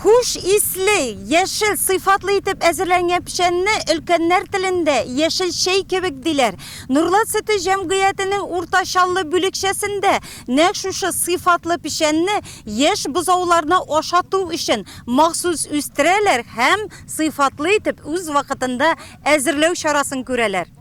Хуш исле, яшел сыйфатлы итеп әзерләнгән печәнне өлкәннәр телендә яшел чәй кебек диләр. Нурлат сөте җәмгыятенең Урта Чаллы бүлекчәсендә нәкъ шушы сыйфатлы печәнне яшь бозауларны ашату өчен махсус үстерәләр һәм сыйфатлы итеп үз вакытында әзерләү чарасын күрәләр.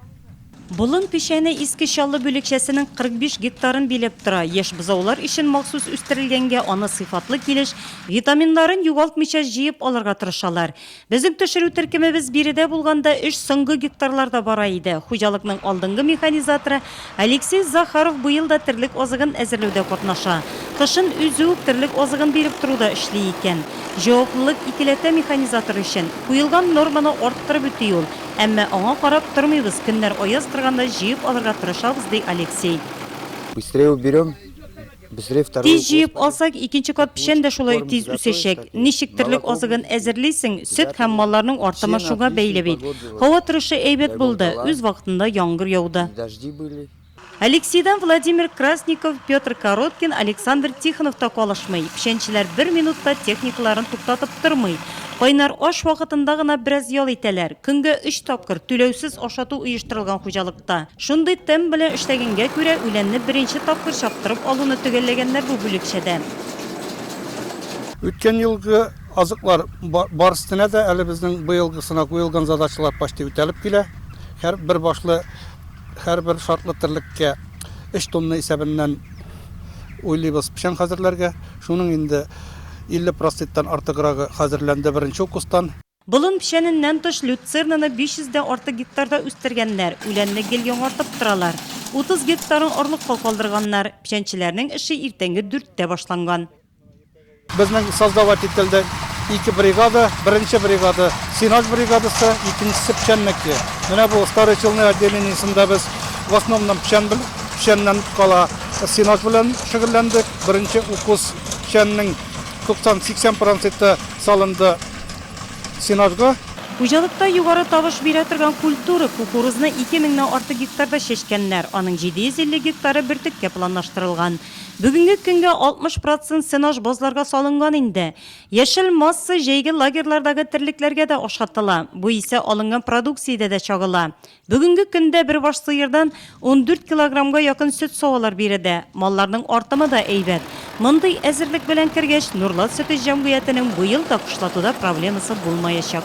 Болын печәне Иске Чаллы бүлекчәсенең 45 гектарын биләп тора. Яшь бозаулар өчен махсус үстерелгәнгә, аны сыйфатлы килеш, витаминнарын югалтмыйча җыеп алырга тырышалар. Безнең төшерү төркемебез биредә булганда өч соңгы гектарларда бара иде. Хуҗалыкның алдынгы механизаторы Алексей Захаров быел да терлек азыгын әзерләүдә катнаша. Кышын үзе үк терлек азыгын биреп тору да эшли икән. Җаваплылык икеләтә механизатор өчен. Куелган норманы арттырып үти ул. Әмма аңа карап тормыйбыз, көннәр аяз торганда җыеп алырга тырышабыз, ди Алексей. Быстрее уберем. Тиз җыеп алсак, икенче кат печән дә шулай ук тиз үсәчәк. Ничек терлек азыгын әзерлисең? Сөт һәм малларның артымы шуңа бәйле бит. Һава торышы әйбәт булды, үз вакытында яңгыр яуды. Алексейдан Владимир Красников, Петр Короткин, Александр Тихонов та калышмый. Печәнчеләр бер минут та техникаларын туктатып тормый. Кайнар аш вакытында гына бераз ял итәләр. Көнгә өч тапкыр түләүсез ашату оештырылган хуҗалыкта. Шундый темп белән эшләгәнгә күрә, үләнне беренче тапкыр чаптырып алуны төгәлләгәннәр бу бүлекчәдә. Үткән елгы азыклар бар өстенә дә әле безнең быелгысына куелган задачалар почти үтәлеп килә. Һәр бер башлы, һәрбер шартлы терлеккә өч тонна исәбеннән уйлыйбыз печән хәзерләргә. Шуның инде 50 проценттан артыграгы хәзерләнде беренче укустан. Болын печәненнән тыш люцернаны 500 дә артык гектарда үстергәннәр, үләнне гел яңартып торалар. 30 гектарын орлыкка калдырганнар. Печәнчеләрнең эше иртәнге дүрттә башланган. Безнең создавать ителде ике бригада, беренче бригада, сенаж бригадасы, икенчесе печәннеке. Менә бу Старый Челны отделениесендә без в основном печән бел, печәннән кала сенаж белән шөгыльләндек. Беренче укус печәннең 90-80 проценты салынды. сенажга. Хуҗалыкта югары табыш бирә торган культура, кукурузны ике меңнән артык гектарда чәчкәннәр, аның 750 гектары бөртеккә планлаштырылган. Бүгенге көнгә 60 процент сенаж базларга салынган инде. Яшел масса җәйге лагерьлардагы терлекләргә дә ашатыла, бу исә алынган продукциядә дә чагыла. Бүгенге көндә бер баш сыердан ундүрт килограммга якын сөт-савалар биредә. Малларның артымы да әйбәт. Мондый әзерлек белән кергәч, Нурлат сөте җәмгыятенең быел да кышлатуда проблемасы булмаячак.